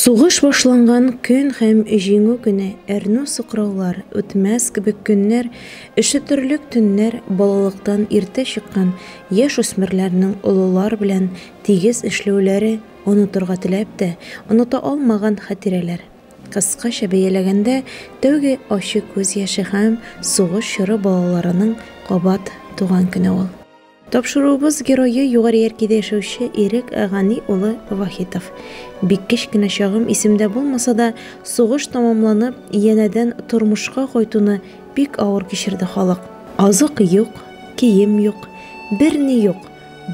Сугыш башланган көн һәм Җиңү көне, әрнү сукраулар, үтмәс кебек көннәр, өшетерлек төннәр, балалыктан иртә чыккан яшь үсмерләрнең олылар белән тигез эшләүләре, онытырга теләп тә, оныта алмаган хатирәләр. Кыскача бәяләгәндә, тәүге ачы күз яше һәм сугыш чоры балаларының кабат туган көне ул. Тапшыруыбыз герое Югары Яркидә яшәүче Ирек Гани улы Вахитов. Бик кечкенә чагым исемдә булмаса да, сугыш тәмамланып, янәдән тормышка кайтуны бик авыр кичерде халык. Азык юк, кием юк, берни юк,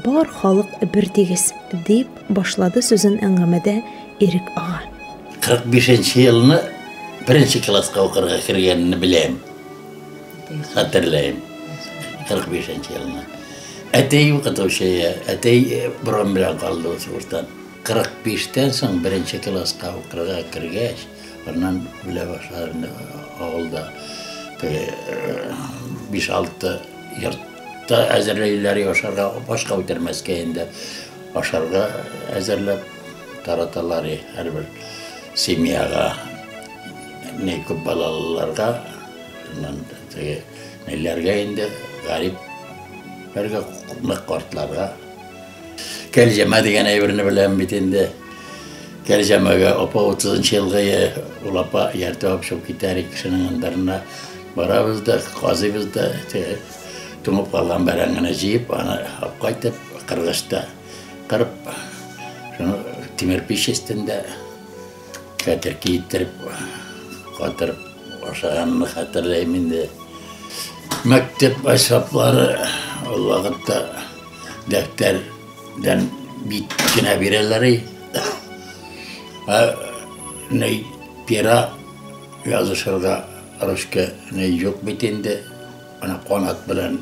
бар халык бертигез, дип башлады сүзен әңгәмәдә Ирек ага. 45 нче елны беренче класска укырга кергәнне беләм. Хәтерләйм. 45 нче елны. Әтәй укытучы, әтәй борын белән калды ул сугыштан. 45 тән соң беренче класска укырга кергәч, аннан белә башлады авылда. 5-6 э, йорт та әзерләйләр ашарга, башка үтермәскә инде ашарга әзерләп тараталар һәрбер семьяга. Менә күп балалыларга, неләргә инде, гарип, бергә нык картларга. Кәлҗәмә дигән әйберне беләм бит инде. Кәлҗәмәгә апа 30 елга ул апа ярты апшып китәр кешенең андырына. Барабыз да, казыйбыз да, туңып калган бәрәңгене җыеп, аны кайтып кыргычта кырып, шуны тимер пич өстендә Хәтер киеттереп, катырып ашаганны хәтерләйм инде. Мәктәп әсбаплары ул вакытта дәфтәрдән бит кенә бирәләр. Ә ни пера язышырга русча ни юк бит инде. Ана канат белән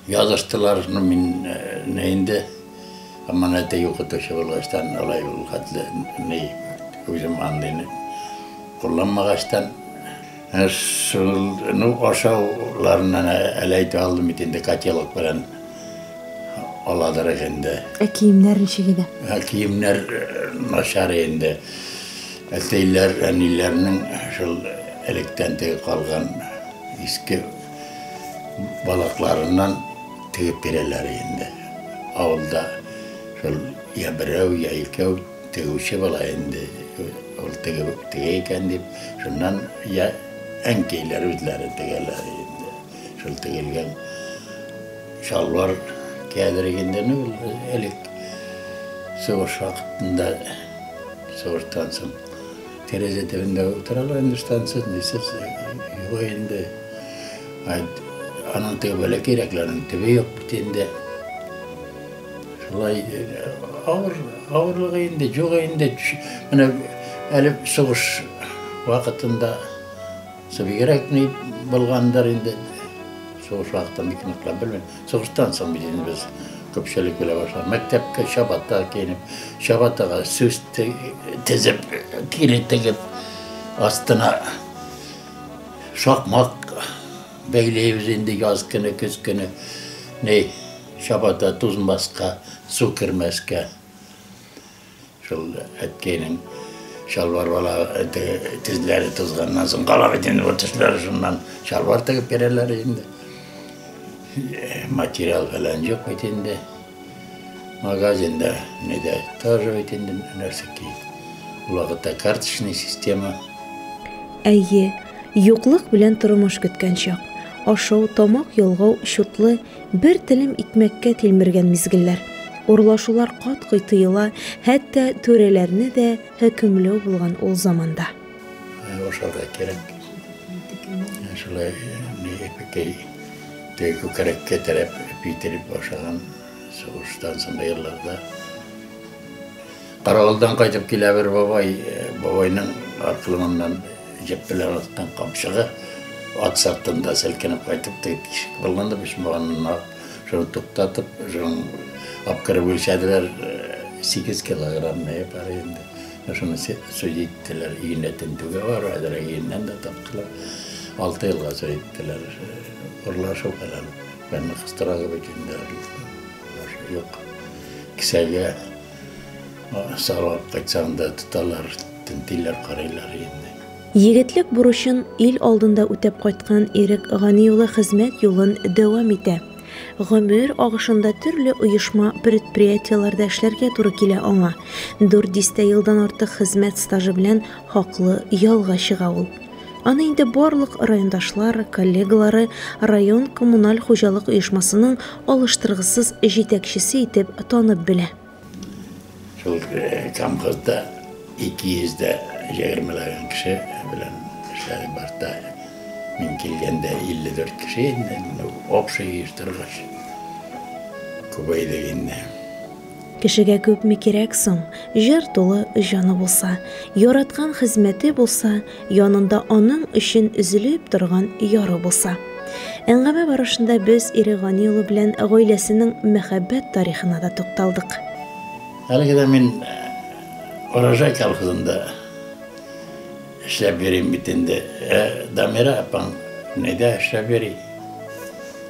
Языштылар, ну мин не инде һаман әти укытучы булгачтан алай ул хәтле ни үзем андыйны кулланмагачтан, менә шул ну ашауларыннан әле әйтеп алдым бит инде котелок белән аладырык инде. Ә киемнәр ничек иде? Ә киемнәр начар инде. Әтиләр, әниләрнең шул электән теге калган иске Балакларыннан тегеп бирәләр инде. Авылда шул я берәү, я икәү тегүче була инде. Ул тегеп тегә икән дип, шуннан я әнкәйләр үзләре тегәләр инде. Шул тегелгән чалбар кәдер инде ну, элек сугыш вакытында сугыштан соң Тәрәзә төбендә утыралар инде штанцы, нисы юк инде. Аның теге бәләкәйрәкләренең төбе юк бит инде. Шулай авыр, авырлыгы инде, югы инде. Менә әле сугыш вакытында Бигрәк ни булгандыр инде, сугыш вакытын бик ныклап белмим. Сугыштан соң бит инде без күпчелек белә башлады. Мәктәпкә чабата киенеп, чабатага сүз тезеп, тире тегеп, астына шакмак бәйләйбез инде яз көне, көз көне. Ни, чабата тузмаска, су кермәскә. Шул әткәйнең чалбар бала тезләре тузганнан соң кала бит инде бу төсләре шуннан чалбар тегеп бирәләр инде. Материал фәлән юк бит инде. Магазинда не дә тоже бит инде нәрсә ки. Вакытта карточный система. Әйе, юклык белән тормыш көткән чак. Ашау, тамак ялгау чутлы Бер телем икмәккә тилмергән мизгелләр. Урлашулар кат-кый тыела, хәтта түрәләрне дә хөкемләү булган ул заманда. Ашарга кирәк. Шулай ипекәй төй күкрәккә терәп, ипи тиреп ашаган сугыштан соңгы елларда. Каравылдан кайтып килә бер бабай, бабайның аркылымыннан җеп белән аткан камчыгы ат сыртында селкенеп кайтып тиеп тишек былгынды, почмаганына шуны туктатып, шуның апкырып үлчәделәр, 8 килограмм мә бар инде. Шуны суй иттеләр, иенә тентүгә бар, әзер иеннән дә таптылар. 6 елга суй иттеләр. Урлашу фәлән. Бәнне кыстыралар бит инде. Юк. Кесәгә Сайлап кайтсаң да тоталар, тентиләр, карыйлар инде. Егетлек бурычын ил алдында үтәп кайткан Ирек Гани улы хезмәт юлын дәвам итә. Гомер агышында төрле оешма, предприятиеләрдә эшләргә туры килә аңа. Дүрт дистә елдан артык хезмәт стажы белән хаклы ялга чыга ул. Аны инде барлык райондашлар, коллегалары район коммуналь хуҗалык оешмасының алыштыргысыз җитәкчесе итеп танып белә. Шул э, колхозда 200 дә җәгермәләгән кеше белән эшләдек башта. Мин килгәндә 54 кеше инде, ну, общий оештыргач күбәйдек инде. Кешегә күпме кирәк соң, җыр тулы җаны булса, яраткан хезмәте булса, янында аның өчен өзелеп торган яры булса. Әңгәмә барышында без ире Гани улы белән гаиләсенең мәхәббәт тарихына да тукталдык. Әлеге дә мин Урожай колхозында эшләп йөрим бит инде. Ә Дамира апаң нидә эшләп йөри?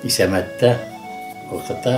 Исәмәттә укыта.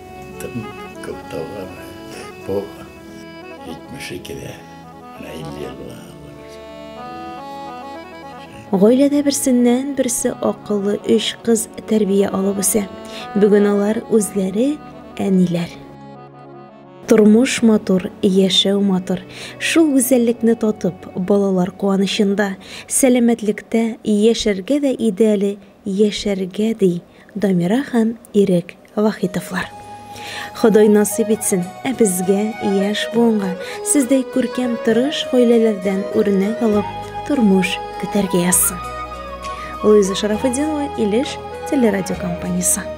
Тым күп тауар бу. 72 дә, менә 50 ел була. Гаиләдә берсеннән берсе акыллы өч кыз тәрбия алып үсә. Бүген алар үзләре әниләр. Тормыш матур, яшәү матур. Шул гүзәллекне татып, балалар куанычында, сәламәтлектә яшәргә дә иде әле яшәргә, ди Дамира һәм Ирек Вахитовлар. Ходай насыйп итсен, ә безгә, яшь буынга, сездәй күркәм тырыш гаиләләрдән үрнәк алып, тормыш көтәргә язсын. Луиза Шарафетдинова, Илеш телерадиокомпаниясе.